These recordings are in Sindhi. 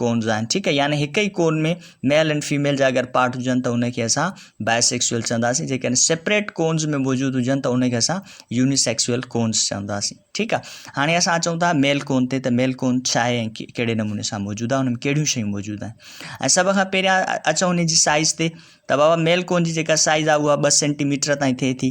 ڪونز آهن ٺيڪ آهي يعني هڪ ئي ڪون ۾ ميل اينڊ فيميل جا اگر پارٽ هجن ته ان کي اسان بائي سيڪسوئل چونداسين جيڪڏهن سيپريٽ ڪونز ۾ موجود هجن ته ان کي اسان يوني سيڪسوئل ڪونز چونداسين ٺيڪ آهي هاڻي اسان اچون ٿا ميل ڪون تي ته ميل ڪون ڇا آهي ۽ ڪهڙي نموني سان موجود آهي ان ۾ ڪهڙيون شيون موجود آهن ۽ سڀ کان پهريان اچو ان جي سائز تي ته بابا ميل ڪون جي جيڪا سائز آهي اها ٻه سينٽيميٽر تائين ٿئي ٿي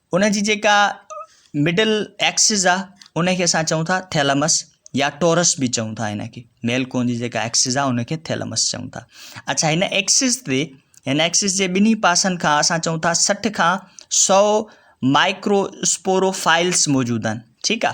ان جي جيڪا مڊل ايڪسز آ ان کي اسان چئون ٿا ٿيلمس يا ٽورس به چئون ٿا ان کي ميل ڪون جي جيڪا ايڪسز آ ان کي ٿيلمس چئون ٿا اچھا هن ايڪسز تي هن ايڪسز جي ٻنهي پاسن کان اسان چئون ٿا سٺ کان سؤ مائڪرو اسپورو فائلس موجود آهن ٺيڪ آ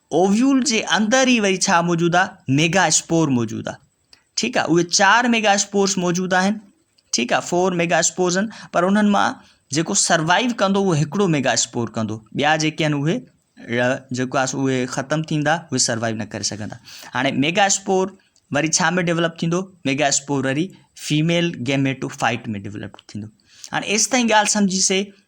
اوويول جي اندر ئي وري ڇا موجود آ ميگا اسپور موجود آ ٺيڪ آ اهي چار ميگا اسپورس موجود آهن ٺيڪ آ فور ميگا اسپورس آهن پر انهن مان جيڪو سروائيو ڪندو اهو هڪڙو ميگا اسپور ڪندو ٻيا جيڪي آهن اهي جيڪو آس اهي ختم ٿيندا اهي سروائو نه ڪري سگهندا هاڻي ميگا اسپور وري ڇا ۾ ڊيولپ ٿيندو ميگا اسپور وري فيميل گيميٽو فائٽ ۾ ڊيولپ ٿيندو هاڻي ايستائين ڳالهه سمجهيسي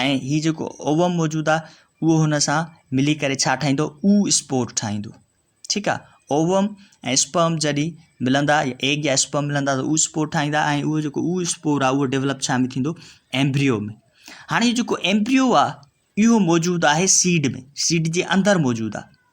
۽ هي جيڪو اووم موجود آ اهو هن سان ملي ڪري ڇا ٺاهيندو او اسپور ٺاهيندو ٺيڪ آ اووم ۽ اسپرم جڏي ملندا يا ايگ يا اسپرم ملندا ته او اسپور ٺاهيندا ۽ اهو جيڪو او اسپور آ اهو ڊيولپ ڇا ۾ ٿيندو ايمبريو ۾ هاڻي جيڪو ايمبريو آ اهو موجود آهي سيڊ ۾ سيڊ جي اندر موجود آ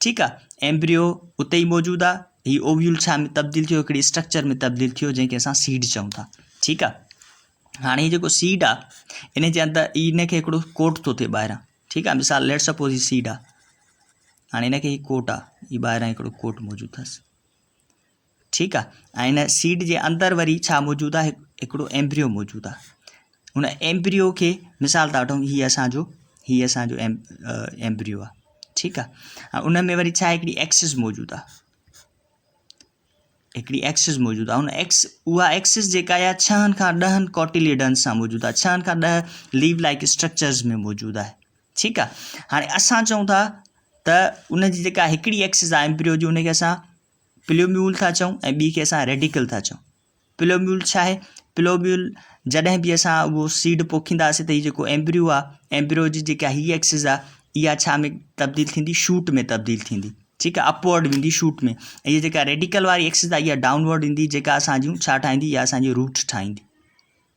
ٺيڪ آ ايمبريو اتي ئي موجود آ هي اوويول ڇا ۾ تبديل ٿيو هڪڙي اسٽرڪچر ۾ تبديل ٿيو جنهن کي اسان سيڊ چئون ٿا ٺيڪ آ هاڻي جيڪو سيڊ آ ان جي اندر ان کي هڪڙو ڪوٽ ٿو ٿئي ٻاهران ٺيڪ آ مثال ليٽ سپوز هي سيڊ آ هاڻي ان کي هي ڪوٽ آ هي ٻاهران هڪڙو ڪوٽ موجود اٿس ٺيڪ آ ۽ ان سيڊ جي اندر وري ڇا موجود آ هڪڙو ايمبريو موجود آ ان ايمبريو کي مثال ٿا وٺون هي اسان جو هي اسان جو ايمبريو آ ٺيڪ آ ان ۾ وري ڇا هڪڙي ايڪسس موجود آ هڪڙي ايڪسس موجود آ ان ايڪس اها ايڪسس جيڪا آ ڇهن کان ڏهن ڪوٽيليڊن سان موجود آ ڇهن کان ڏهن ليو لائڪ اسٽرڪچرز ۾ موجود آ ٺيڪ آ هاڻي اسان چون ٿا ته ان جي جيڪا هڪڙي ايڪسس آ ايمبريو جي ان کي اسان پلوميول ٿا چئون ۽ ٻي کي اسان ريڊيڪل ٿا چئون پلوميول ڇا آهي پلوميول جڏهن به اسان اهو سيڊ پوکينداسين ته هي جيڪو ايمبريو آ ايمبريو جي جيڪا هي ايڪسز آ اها ڇا ۾ تبديل ٿيندي شوٽ ۾ تبديل ٿيندي ٺيڪ آ اپورڊ ويندي شوٽ ۾ ۽ هي جيڪا ريڊيڪل واري ايڪسز آ اها ڊاؤنورڊ ايندي جيڪا اسان جون ڇا ٺاهيندي اها اسان جي روٽ ٺاهيندي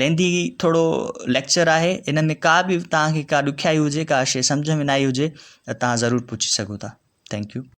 لينڌي ٿورو ليڪچر آهي ان ۾ ڪا به توهان کي ڪا ڏکيائي هجي ڪا شيء سمجهه ۾ نه آئي هجي ته توهان ضرور پڇي سگهو ٿا ٿينڪ يو